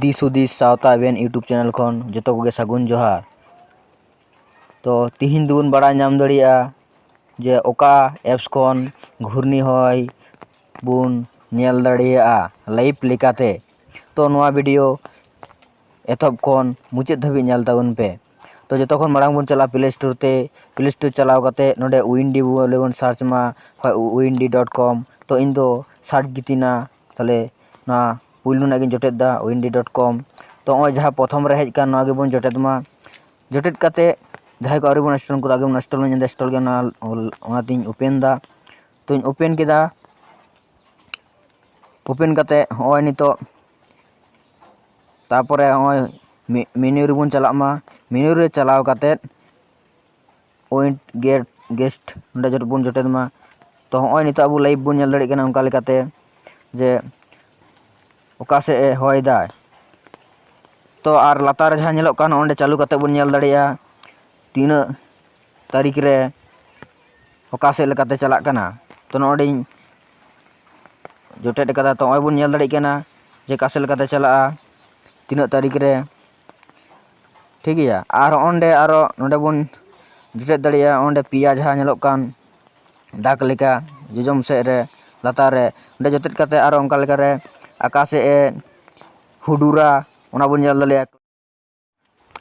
ᱫᱤᱥ ᱦᱩᱫᱤᱥ ᱥᱟᱶᱛᱟ ᱮᱵᱷᱮᱱ ᱤᱭᱩᱴᱩᱵᱽ ᱪᱮᱱᱮᱞ ᱠᱷᱚᱱ ᱡᱚᱛᱚ ᱠᱚᱜᱮ ᱥᱟᱹᱜᱩᱱ ᱡᱚᱦᱟᱨ ᱛᱚ ᱛᱤᱦᱤᱧ ᱫᱚᱵᱚᱱ ᱵᱟᱲᱟᱭ ᱧᱟᱢ ᱫᱟᱲᱮᱭᱟᱜᱼᱟ ᱡᱮ ᱚᱠᱟ ᱮᱯᱥ ᱠᱷᱚᱱ ᱜᱷᱩᱨᱱᱤ ᱦᱚᱭ ᱵᱚᱱ ᱧᱮᱞ ᱫᱟᱲᱮᱭᱟᱜᱼᱟ ᱞᱟᱭᱤᱵᱷ ᱞᱮᱠᱟᱛᱮ ᱛᱚ ᱱᱚᱣᱟ ᱵᱷᱤᱰᱤᱭᱳ ᱮᱛᱚᱦᱚᱵ ᱠᱷᱚᱱ ᱢᱩᱪᱟᱹᱫ ᱫᱷᱟᱹᱵᱤᱡ ᱧᱮᱞ ᱛᱟᱵᱚᱱ ᱯᱮ ᱛᱚ ᱡᱚᱛᱚ ᱠᱷᱚᱱ ᱢᱟᱲᱟᱝ ᱵᱚᱱ ᱪᱟᱞᱟᱜᱼᱟ ᱯᱞᱮ ᱥᱴᱳᱨ ᱛᱮ ᱯᱞᱮ ᱥᱴᱳᱨ ᱪᱟᱞᱟᱣ ᱠᱟᱛᱮ ᱱᱚᱰᱮ ᱩᱭᱤᱱᱰᱤ ᱵᱚᱞᱮ ᱵᱚᱱ ᱥᱟᱨᱪ ᱢᱟ ᱵᱟᱠᱷᱟᱡ ᱩᱭᱤᱱᱰᱤ ᱰᱚᱴ ᱠᱚᱢ ᱛᱚ ᱤᱧ ᱫᱚ ᱥᱟᱨᱪ ᱜᱤᱛᱤᱧᱱᱟ ᱛᱟᱦᱚᱞᱮ ᱱᱚᱣᱟ ᱯᱩᱭᱞᱩ ᱨᱮᱱᱟᱜ ᱜᱤᱧ ᱡᱚᱴᱮᱫ ᱮᱫᱟ ᱩᱭᱤᱱᱰᱤ ᱰᱚᱴ ᱠᱚᱢ ᱛᱚ ᱱᱚᱜᱼᱚᱭ ᱡᱟᱦᱟᱸ ᱯᱨᱚᱛᱷᱚᱢ ᱨᱮ ᱦᱮᱡ ᱟᱠᱟᱱ ᱱᱚᱣᱟ ᱜᱮᱵᱚᱱ ᱡᱚᱴᱮᱫ ᱢᱟ ᱡᱚᱴᱮᱫ ᱠᱟᱛᱮ ᱡᱟᱦᱟᱸᱭ ᱠᱚ ᱟᱹᱣᱨᱤ ᱵᱚᱱ ᱤᱱᱥᱴᱚᱞ ᱩᱱᱠᱩ ᱫᱚ ᱟᱜᱮ ᱵᱚᱱ ᱤᱱᱥᱴᱚᱞ ᱢᱟ ᱤᱧ ᱫᱚ ᱤᱱᱥᱴᱚᱞ ᱜᱮ ᱢᱮᱱᱟᱜᱼᱟ ᱚᱱᱟᱛᱤᱧ ᱳᱯᱮᱱ ᱮᱫᱟ ᱛᱚᱧ ᱳᱯᱮᱱ ᱠᱮᱫᱟ ᱳᱯᱮᱱ ᱠᱟᱛᱮ ᱱᱚᱜᱼᱚᱭ ᱱᱤᱛᱚᱜ ᱛᱟᱯᱚᱨᱮ ᱱᱚᱜᱼᱚᱭ ᱢᱮᱱᱩ ᱨᱮᱵᱚᱱ ᱪᱟᱞᱟᱜ ᱢᱟ ᱢᱮᱱᱩ ᱨᱮ ᱪᱟᱞᱟᱣ ᱠᱟᱛᱮᱫ ᱯᱚᱭᱮᱱᱴ ᱜᱮᱴ ᱜᱮᱥᱴ ᱚᱸᱰᱮ ᱡᱚᱛᱚ ᱵᱚᱱ ᱡᱚᱴᱮᱫ ᱢᱟ ᱛᱚ ᱱᱚᱜᱼᱚᱭ ᱱᱤᱛᱚᱜ ᱟᱵᱚ ᱞᱟᱭᱤᱵᱷ ᱵᱚᱱ ᱧᱮᱞ ᱫᱟᱲᱮᱭᱟᱜ ᱠᱟᱱᱟ ᱚᱱᱠᱟ ᱞᱮᱠᱟᱛᱮ ᱡᱮ ᱚᱠᱟ ᱥᱮᱫ ᱮ ᱦᱚᱭ ᱫᱟᱭ ᱛᱚ ᱟᱨ ᱞᱟᱛᱟᱨ ᱨᱮ ᱡᱟᱦᱟᱸ ᱧᱮᱞᱚᱜ ᱠᱟᱱ ᱚᱸᱰᱮ ᱪᱟᱹᱞᱩ ᱠᱟᱛᱮᱫ ᱵᱚᱱ ᱧᱮᱞ ᱫᱟᱲᱮᱭᱟᱜᱼᱟ ᱛᱤᱱᱟᱹᱜ ᱛᱟᱹᱨᱤᱠᱷ ᱨᱮ ᱚᱠᱟ ᱥᱮᱫ ᱞᱮᱠᱟᱛᱮ ᱪᱟᱞᱟᱜ ᱠᱟᱱᱟ ᱛᱚ ᱱᱚᱰᱮᱧ ᱡᱚᱴᱮᱫ ᱠᱟᱫᱟ ᱛᱚ ᱱᱚᱜᱼᱚᱭ ᱵᱚᱱ ᱧᱮᱞ ᱫᱟᱲᱮᱭᱟᱜ ᱠᱟᱱᱟ ᱡᱮ ᱚᱠᱟ ᱥᱮᱫ ᱞᱮᱠᱟᱛᱮ ᱪᱟᱞᱟᱜᱼᱟ ᱛᱤᱱᱟᱹᱜ ᱛᱟᱹᱨᱤᱠᱷ ᱨᱮ ᱴᱷᱤᱠ ᱜᱮᱭᱟ ᱟᱨ ᱚᱸᱰᱮ ᱟᱨᱚ ᱱᱚᱰᱮ ᱵᱚᱱ ᱡᱚᱴᱮᱫ ᱫᱟᱲᱮᱭᱟᱜᱼᱟ ᱚᱸᱰᱮ ᱯᱮᱭᱟ ᱡᱟᱦᱟᱸ ᱧᱮᱞᱚᱜ ᱠᱟᱱ ᱫᱟᱜᱽ ᱞᱮᱠᱟ ᱡᱚᱡᱚᱢ ᱥᱮᱫ ᱨᱮ ᱞᱟᱛᱟᱨ ᱨᱮ ᱚᱸᱰᱮ ᱡᱚᱴᱮᱫ ᱠᱟᱛᱮᱫ ᱟᱨᱚ ᱚᱱᱠᱟ ᱞᱮᱠᱟᱨᱮ ᱟᱠᱟ ᱥᱮᱫ ᱮ ᱦᱩᱰᱩᱨᱟ ᱚᱱᱟ ᱵᱚᱱ ᱧᱮᱞ ᱫᱟᱲᱮᱭᱟᱜᱼᱟ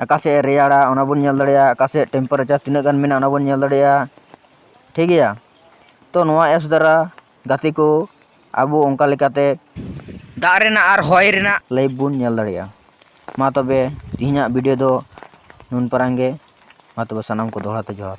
ᱟᱠᱟ ᱥᱮᱫ ᱮ ᱨᱮᱭᱟᱲᱟ ᱚᱱᱟ ᱵᱚᱱ ᱧᱮᱞ ᱫᱟᱲᱮᱭᱟᱜᱼᱟ ᱟᱠᱟ ᱥᱮᱫ ᱴᱮᱢᱯᱟᱨᱮᱪᱟᱨ ᱛᱤᱱᱟᱹᱜ ᱜᱟᱱ ᱢᱮᱱᱟᱜᱼᱟ ᱚᱱᱟ ᱵᱚᱱ ᱧᱮᱞ ᱫᱟᱲᱮᱭᱟᱜᱼᱟ ᱴᱷᱤᱠ ᱜᱮᱭᱟ ᱛᱚ ᱱᱚᱣᱟ ᱮᱯᱥ ᱫᱟᱨᱟ ᱜᱟᱛᱮ ᱠᱚ ᱟᱵᱚ ᱚᱱᱠᱟ ᱞᱮᱠᱟᱛᱮ ᱫᱟᱜ ᱨᱮᱱᱟᱜ ᱟᱨ ᱦᱚᱭ ᱨᱮᱱᱟᱜ ᱞᱟᱭᱤᱵᱷ ᱵᱚᱱ ᱧᱮᱞ ᱫᱟᱲᱮᱭᱟᱜᱼᱟ ᱢᱟ ᱛᱚᱵᱮ ᱛᱮᱦᱮᱧᱟᱜ ᱵᱷᱤᱰᱤᱭᱳ ᱫᱚ ᱱᱩᱱ ᱯᱟᱨᱟᱝ ᱜᱮ ᱢᱟ ᱛᱚᱵᱮ ᱥᱟᱱᱟᱢ ᱠᱚ ᱫᱚᱦᱲᱟ ᱛᱮ ᱡᱚᱦᱟᱨ